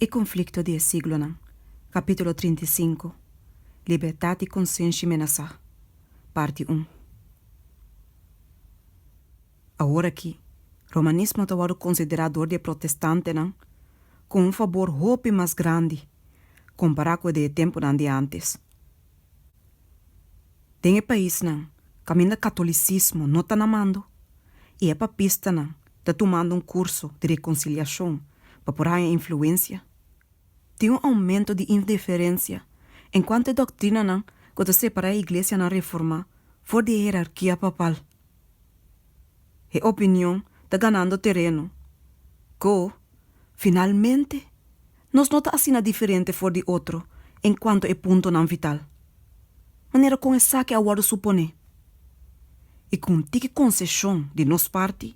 E konflikto di e siglonan, Kapítulo trinta i sinku, Libertat di konsenshi menasá, Parti un. Awor akí, Romanismo ta wòrdu konsiderá dor di e protestantenan ku un fabor hopi mas grandi kompará ku e di e tempunan di ántes. Den e paisnan kaminda katolicismo no ta na mando y e papistanan ta tumando un curso di reconciliacion pa por haña influencia, tin un aumento di indiferencia en cuanto e doctrinanan cu ta separa e iglesianan reforma for di e hierarquia papal. He opinion ta ganando tereno. Go, Finalmente, nos no ta asina diferente for di otro en cuanto e puntonan vital. Manera con esaki a wordo suponé y cu un tiki conceshon di nos parti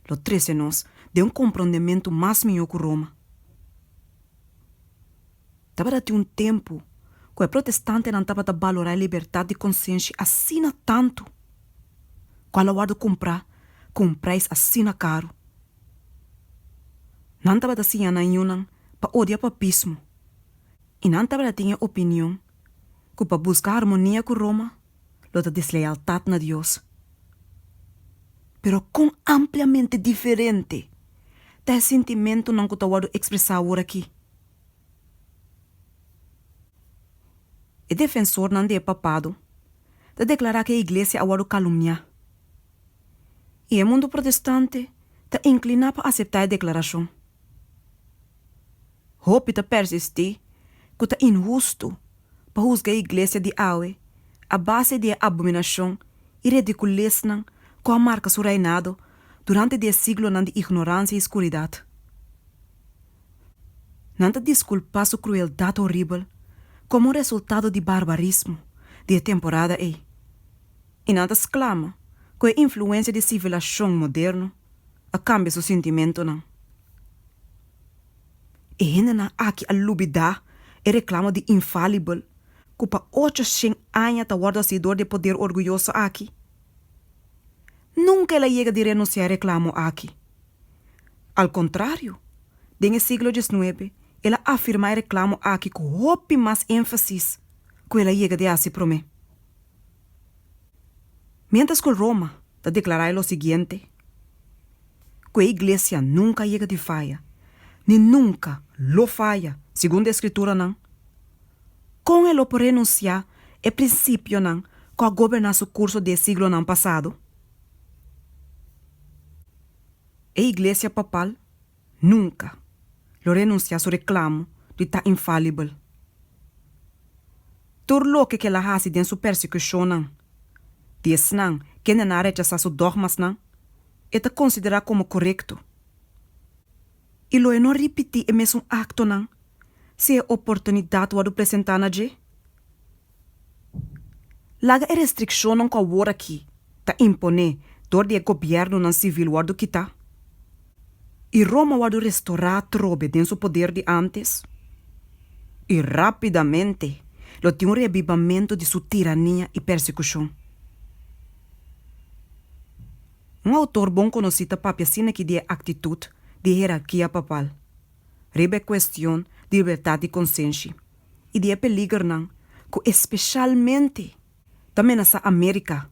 lo trece nos den un comprondementu mas miho cu Roma. Tabata tin un tempu ku e protestantenan tabata balorá e libertat di konsenshi asina tantu ku al a wòrdu kumprá ku un preis asina karu. Nan tabata siña nan yunan pa odia papismo i nan tabata tin e opinion ku pa buska harmonia ku Roma lo ta deslealtat na Dios. Pero kon ampliamente diferente ta e sintimentunan ku ta wòrdu ekspresá aworakí! E defensornan di e Papado ta deklará ku e Iglesia a wòrdu kalumniá, i e mundu protestante ta inkliná pa aseptá e deklarashon. Hopi ta persistí ku ta inhustu pa husga e Iglesia di awe a base di e abominashon i redikulesnan ku a marka su reinado durante di e siglonan di ignoransia i skuridat. Nan ta disculpa su crueldad horibel como un resultado di barbarismo di e temporada ey y nan ta sclama cu e influencia di civilacion moderno a cambia su sintimentonan. E hendenan aki a lubida e reclamo di infalibel cu pa ocho shen aña ta wordo hacidor di e poder orguyoso aki. Nunca el a yega di renuncia e reclamo aki. Al contrario, den e siglo diesnuebe el a afirma e reclamo aki cu hopi mas enfasis cu el a yega di haci prome. Mientras cu el Roma ta declara e lo siguiente, Cu e Iglesia nunca a yega di faya, ni nunca lo faya, segun de Escrituranan, Kon e lo por renunsiá e prinsipionan ku a goberná su kurso di e siglonan pasado? E Iglesia Papal nunka lo renunsiá su reklamo di ta infalibel. Tur loke ku el a hasi den su persekushonnan di esnan kendenan a rechasá su dògmasnan, e ta konsiderá komo korekto. i lo e no ripití e mesun aktonan si e oportunidat wòrdu presentá na dje? Laga e restrikshonnan ku aworakí ta imponé dor di e gobièrnunan sivil wòrdu kitá, i Roma wòrdu restorá atrobe den su poder di ántes, i rápidamente lo tin un reabibamentu di su tirania i persekushon. Un outor bon konosí ta papia asina ki di e aktitut di e hierarkia papal riba e kuestion di libertat di konsenshi i di e peligernan ku espeshalmente ta menasá Amérika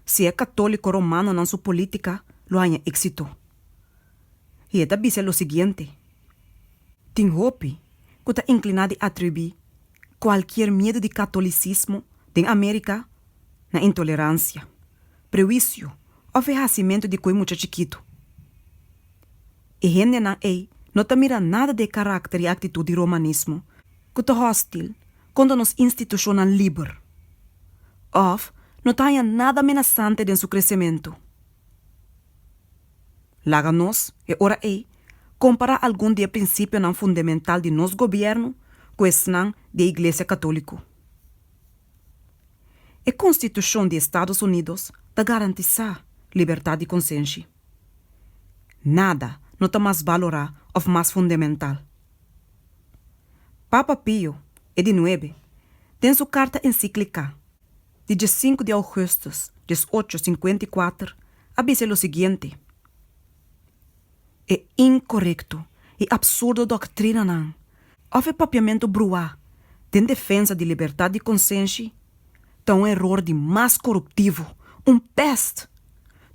si e katóliko romanonan su polítika lo haña éksito. I e ta bisa lo siguiente, Tin hopi ku ta inkliná di atribuí kualkier miedu di katolisismo den Amérika na intoleransia, prehuisio òf e hasimentu di koe mucha chikitu. E hendenan ei no ta mira nada di e karakter i aktitut di romanismo ku ta hòstil kontra nos institushonnan liber, òf no ta haña nada amenasante den su kresementu. Laga nos, e ora ei, kompará algun di e prinsipionan fundamental di nos gobièrnu ku esnan di e iglesia katóliko. E Konstitushon di Estados Unidos ta garantisá libertat di konsenshi. Nada no ta mas balorá òf mas fundemental. Papa Pio e di Nuebe den su karta ensíkliká di dies sinku di augustus dies ocho sinkuenta i kuater a bisa lo siguiente, e inkorekto i apsurdo doktrinanan òf e papiamentu bruá den defensa di libertat di konsenshi ta un eror di mas koruptivo, un pèst.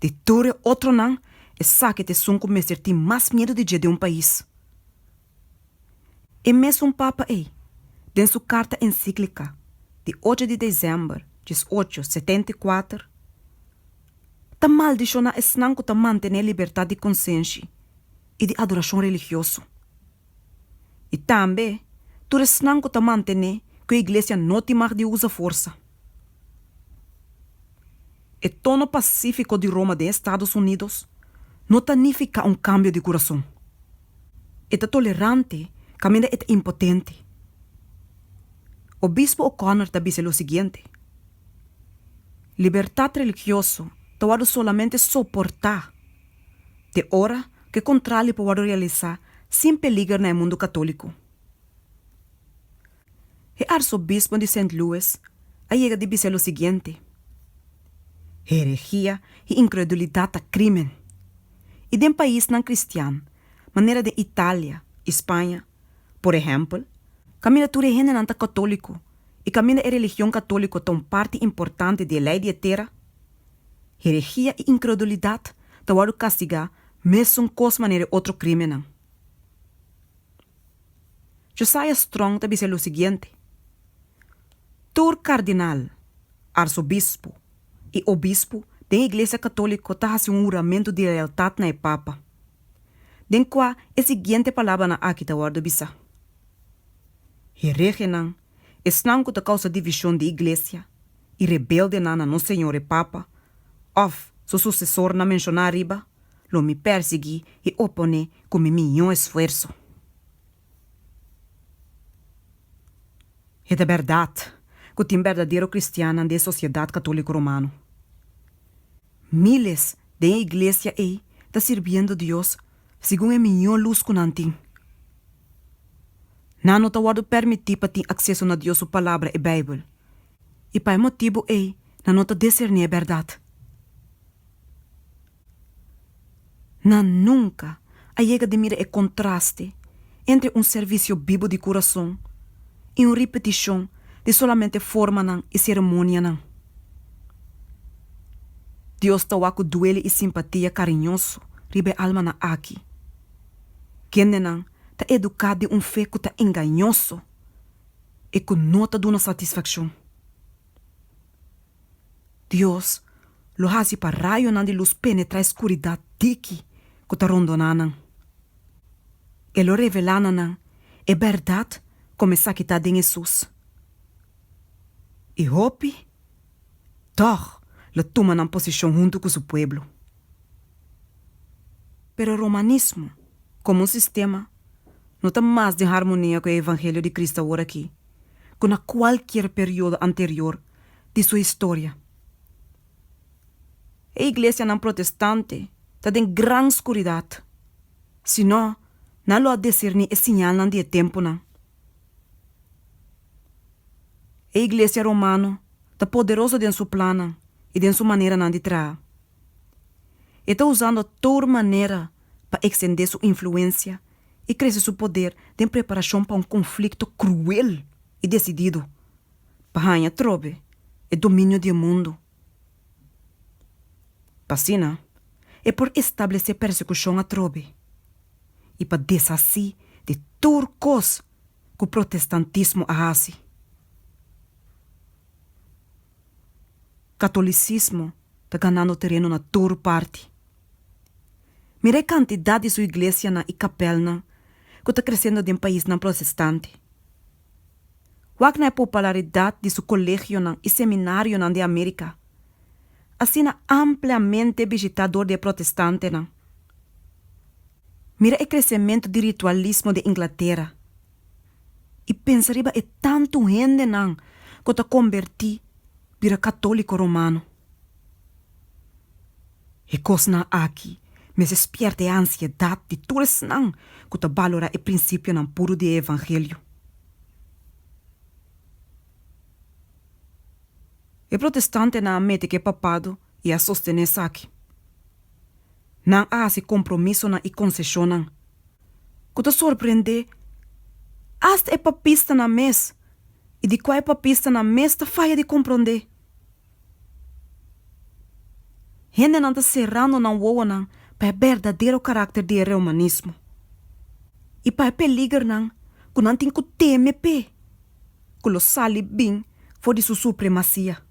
Di tur e otronan, esaki ta esun ku mester tin mas miedu di dje den un pais. E mesun Papa ei, den su karta ensíklika di ocho di desèmber dies ocho setenta i kuater, ta maldishoná esnan ku ta mantené libertat di konsenshi i di adorashon religioso, i tambe tur esnan ku ta mantené ku e iglesia no tin mag di usa forsa. E tono pasífiko di Roma den Estados Unidos no ta nifiká un kambio di kurason. e ta tolerante kaminda e ta impotente. Obispo O'Connor ta bisa lo siguiente, Libertat religioso ta wòrdu solamente soportá te ora ku e kontrali por wòrdu realisá sin peliger na e mundu katóliko. E arsobispo di Saint Louis a yega di bisa lo siguiente, Heregia i inkredulidat ta krímen, i den paisnan kristian manera den Italia i Spaña, por ehèmpel, kaminda tur e hendenan ta katóliko i kaminda e religion katóliko ta un parti importante di e lei di e tera, heregia i inkredulidat ta wòrdu kastigá mesun kos manera e otro krímennan. Josiah Strong ta bisa lo siguiente, Tur kardinal, arsobispo i obispo den e Iglesia Katóliko ta hasi un huramentu di lealtat na e Papa, den kua e siguiente palabranan aki ta wòrdu bisá, Heregenan, esnan ku ta kousa divishon di Iglesia, i rebeldenan na nos Señor e Papa òf su susesornan menshoná ariba, lo mi pèrsiguí e oponé ku mi mió esfuerso. E ta bèrdat ku tin berdadero kristiannan den e sosiedat katóliko romano. Míles den e iglesia ei ta sirbiendo Dios segun e mió lus ku nan tin. Nan no ta wòrdu pèrmití pa tin akseso na Dios su Palabra, e Beibel, i pa e motibu ei nan no ta deserní e bèrdat. Nan nunka a yega di mira e kontraste entre un servisio bibu di kurason i un ripetishon di solamente formanan i seremonianan. Dios ta wak ku duele i simpatia kariñoso riba e almanan aki. Kendenan ta eduká den un fe ku ta engañoso i ku no ta duna satisfakshon. Dios lo hasi pa rayonan di lus penetrá e skuridat diki ku ta rondoná nan. E lo revelá na nan e bèrdat kòm esaki ta den Hesus. I hopi tòg lo tuma nan posishon huntu ku su pueblo. Pero romanismo komo un sistema no ta mas den harmonia ku e evangelio di Kristu aworakí, ku na kualkier periodo anterior di su historia. E iglesianan protestante ta den gran skuridat, si no, nan lo a disirní e siñalnan di e tempunan. E iglesia romano ta poderoso den su plannan i den su maneranan di traha. E ta usando tur manera pa ekstendé su influensia i krese su poder den preparashon pa un konflikto kruel i desidido. pa haña trobe e dominio di e mundu. Pa asina e por establesé persekushon atrobe i pa deshasí di tur kos ku protestantismo a hasi. Katolisismo ta ganando tereno na tur parti. Mira e kantidat di su iglesianan i kapèlnan ku ta kresendo den paisnan protestante. Wak na e popularidat di su kolegionan i seminarionan den Amerika, asina ampliamente bishitá dor di e protestantenan. Mira e kresementu di ritualismo den Inglatera i pensa riba e tantu hendenan ku ta kombertí bira katóliko romano. E kosnan aki mester spièrta e ansiedat di tur esnan ku ta balorá e prinsipionan puru di e evangelio. E protestantenan a mete ke papado i a sostené esaki. Nan a hasi kompromisonan i konseshonnan ku ta sorprendé asta e papistanan mes i di kua e papistanan mes ta faya di komprondé. Hendenan ta serando nan wowonan pa e berdadero karakter di e reumanismo i pa e peligernan ku nan tin ku teme p'e ku lo sali bin for di su supremasia.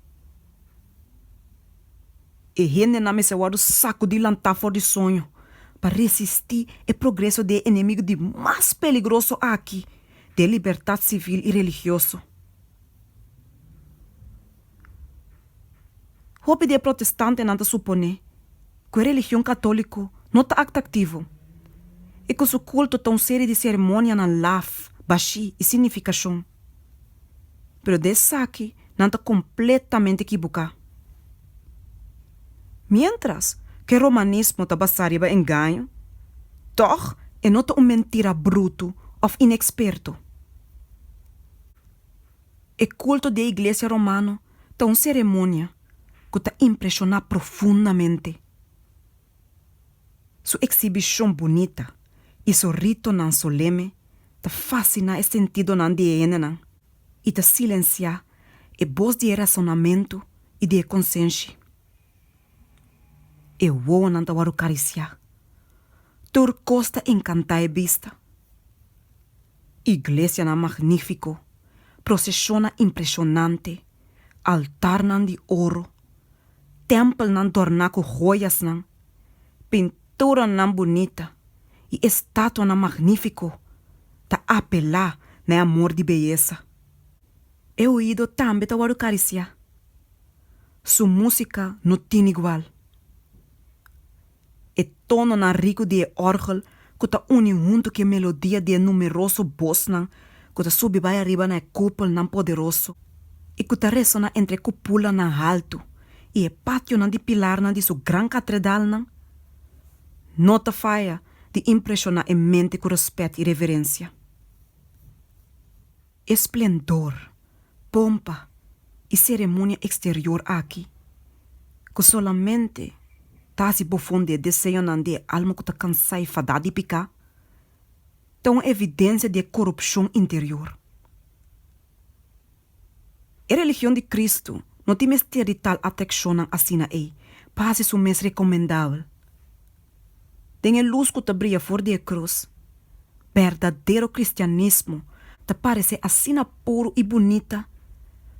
E hendenan mester wòrdu sakudí lantá for di soño pa resistí e progreso di e enemigu di mas peligroso aki di e libertat sivil i religioso. Hopi di e protestantenan ta suponé ku e religion katóliko no ta aktraktivo i ku su kulto ta un serie di seremonianan laf, bashí i sin nifikashon. Pero di esaki nan ta kompletamente ekiboká. Miéntras ku e romanismo ta basá riba engaño, tòg e no ta un mentira brutu òf inexperto. E kulto di e iglesia romano ta un seremonia ku ta impreshoná profundamente. Su eksibishon bunita i su ritonan soleme ta fasiná e sentidonan di e hendenan i ta silensiá e bos di e rasonamentu i di e konsenshi. E wowonan ta wòrdu karisiá. Tur kos ta enkantá e bista. Iglesianan magnífiko, proseshonnan impreshonante, altarnan di oro, tèmpelnan dòrná ku hoyasnan, pinturanan bunita i estatuanan magnífiko ta apelá na e amor di beyesa. E oido tambe ta wòrdu karisiá. Su músika no tin igual. E tononan riku di e òrgel ku ta uni huntu ku e melodia di e numeroso bosnan ku ta subi bai ariba na e kupelnan poderoso i ku ta resoná entre e kupulanan haltu i e pationan di pilarnan di su gran katredalnan no ta faya di impreshoná e mente ku rèspèt i reverensia. esplendor, pompa i seremonia eksterior aki, ku solamente ta hasi bofon di e deseonan di e alma ku ta kansá i fadá di piká, ta un evidensia di e korupshon interior. E religion di Kristu no tin mester di tal atrakshonnan asina ei pa hasi su mes rekomendabel. Den e lus ku ta bria for di e krus, berdadero kristianismo ta parese asina puru i bunita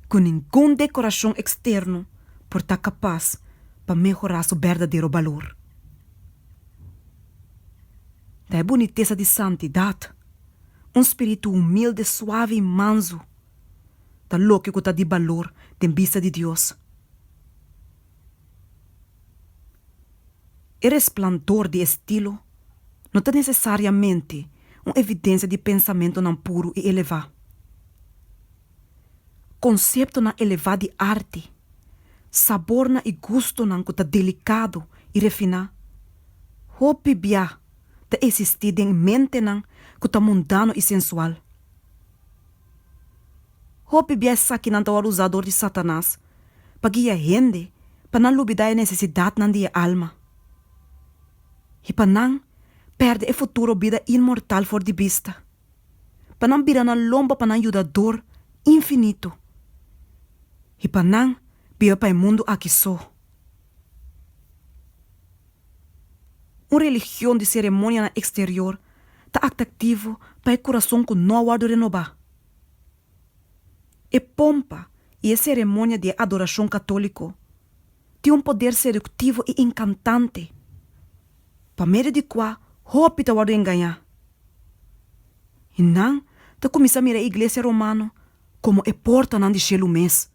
ku ningun dekorashon eksterno por ta kapas pa mehorá su berdadero balur. Ta e bunitesa di santidat, un spiritu humilde, suave i mansu, ta loke ku ta di balur den bista di Dios. E resplandor di e stilo no ta nesesariamente un evidensia di pensamentunan puru i elevá. Konseptonan elevá di arti, sabornan i gustonan ku ta delikado i refiná, hopi bia ta esistí den mentenan ku ta mundano i sensual. Hopi bia esaki nan ta wòrdu usá dor di Satanas pa guia e hende pa nan lubidá e nesesidatnan di e alma i pa nan pèrdè e futuro bida inmortal for di bista, pa nan bira nan lomba pa nan yudador infinito i pa nan biba pa e mundu aki so. Un religion di seremonianan eksterior ta atractivo pa e kurason ku no a wòrdu renobá. E pompa i e seremonia di e adorashon katóliko tin un poder seduktivo i enkantante pa medio di kua hopi ta wòrdu engañá i nan ta kuminsá mira e iglesia romano komo e portanan di shelu mes.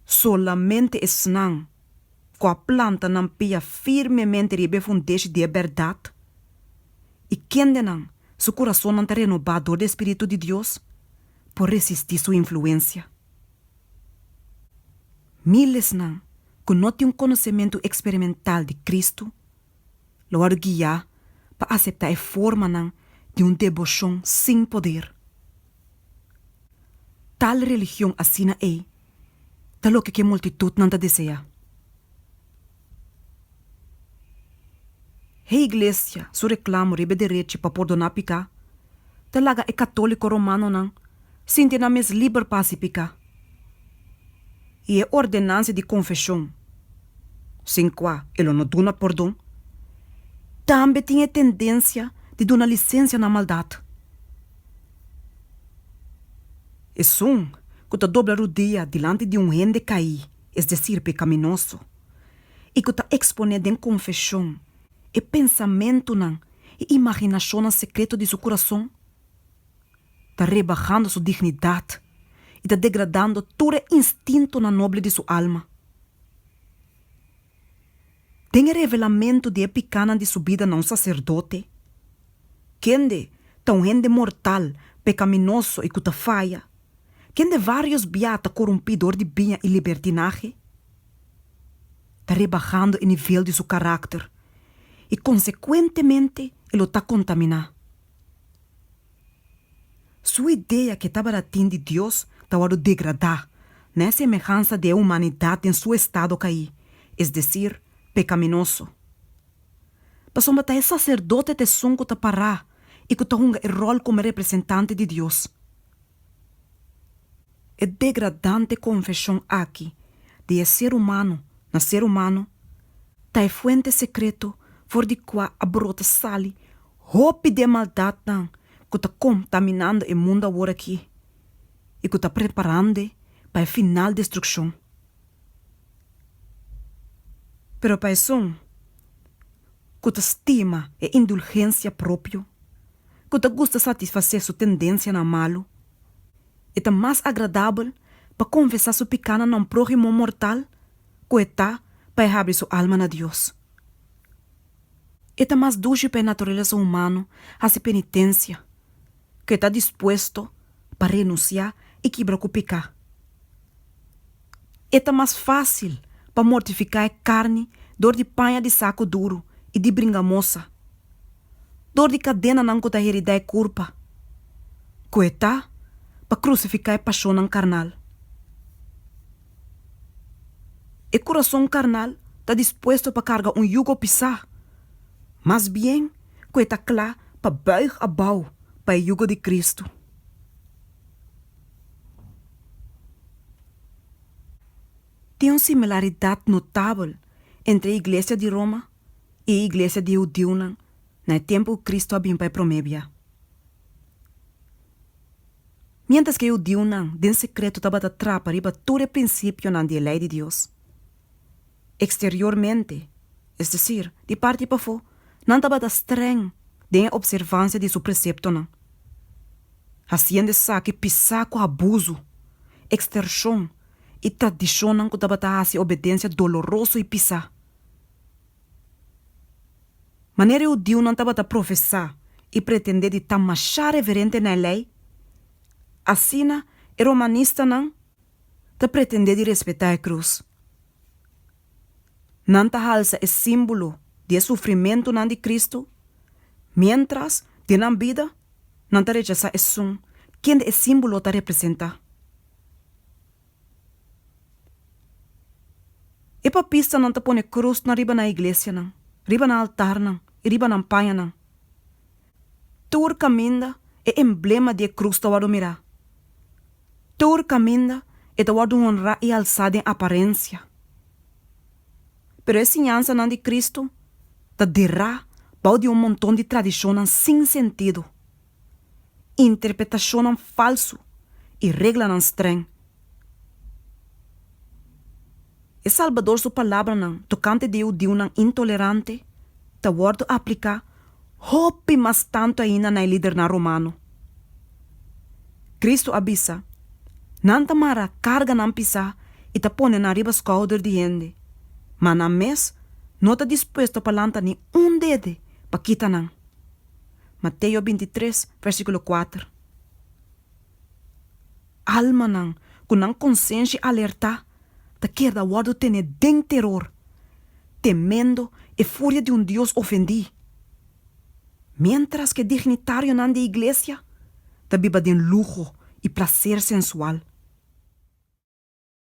Solamente esnan ku a planta nan pia firmemente riba e fundeshi di e bèrdat i kendenan su kurasonnan ta renobá dor di e spiritu di Dios por resistí su influensia. Milesnan ku no tin un konosementu eksperimental di Kristu lo wòrdu guiá pa aseptá e formanan di un deboshon sin poder. Tal religion asina ei ta loke ku e multitutnan ta deseá. Heiglesia su reklamo riba e derechi pa pordoná piká ta laga e katóliko romanonan sinti nan mes liber pa hasi piká. i e ordenansia di konfeshon, sin kua e lo no duna pordon, tambe tin e tendensia di duna lisensia na maldat. Esun ku ta dobla rudia dilanti di un hende kaí, es desir pekaminoso, i ku ta eksponé den konfeshon e pensamentunan i imaginashonnan sekreto di su kurason, ta rebahando su dignidad y ta degradando tur e instintonan noble di su alma. Den e revelamento di e picanan di su bida na un sacerdote, kende ta un hende mortal, pecaminoso y cu ta faya, kende varios bia ta corumpi door di biña y libertinahe, ta rebahando e nivel di su caracter y consecuentemente e lo ta contamina. Su idea ke tabata tin di Dios ta wòrdu degradá na e semehansa di e humanidat den su estado kaí, es desir, pekaminoso. Pasobra ta e saserdote ta esun ku ta pará i ku ta hunga e ròl komo e representante di Dios. E degradante konfeshon aki di e ser humano na ser humano ta e fuente sekreto for di kua a brota sali Hopi den maldatnan ku ta kontaminando e mundu aworakí i ku ta preparando pa e final destrukshon. Pero pa esun ku ta stima e indulgensia propio, ku ta gusta satisfasé su tendensianan malu, e ta mas agradabel pa konfesá su pikánan na un próhimo mortal ku e ta pa e habri su alma na Dios. E ta mas dushi pa e naturalesa humano hasi penitensia ku e ta dispuesto pa renunsiá i kibra ku peká. E ta mas fásil pa mortifiká e karni dor di paña di saku duru i di bringa mosa, dor di kadenanan ku ta heridá e kurpa, ku e ta pa krusifiká e pashonnan karnal. E kurason karnal ta dispuesto pa karga un yugo pisá, mas bien ku e ta kla pa bùig abou pa e yugo di Kristu. Tin un similaridat notabel entre e iglesia di Roma i e iglesia di e hudiunan na e tempu ku Kristu a bin pa e promé biá. Miéntras ku e hudiunan den sekreto tabata trapa riba tur e prinsipionan di e Lei di Dios eksteriormente, es desir, di parti pafó, nan tabata strèng den e opservansia di su preseptonan, hasiendo esaki pisá ku abuso, ekstershon i tradishonnan ku tabata hasi obedensia doloroso i pisá. Manera e hudiunan tabata profesá i pretendé di ta mashá reverente na e lei, asina e romanistanan ta pretendé di respetá e krus. Nan ta halsa e símbolo di e sufrimentunan di Kristu, miéntras den nan bida nan ta rechasá esun kende e símbolo ta representá. E papistanan ta pone krusnan riba nan iglesianan, riba nan altarnan i riba nan pañanan. Tur kaminda e emblema di e krus ta wòrdu mirá. Tur kaminda e ta wòrdu honrá i alsá den aparensia. Pero e siñansanan di Cristo ta derá bou di un monton di tradishonnan sin sentido. interpretashonnan falsu i reglanan strèng. E Salbador su palabranan tokante di hudiunan intolerante ta wòrdu apliká hopi mas tantu ainda na e lidernan romano. Kristu a bisa, Nan ta mara karga nan pisá i ta pone nan riba skouder di hende, ma nan mes no ta dispuesto pa lanta ni un dede pa kita nan. Mateo bintitres, versíkulo kuater. Almanan ku nan konsenshi alertá ta keda wòrdu tené den teror, temendo e furia di un Dios ofendí, miéntras ku e dignitarionan di e iglesia ta biba den luho i plaser sensual.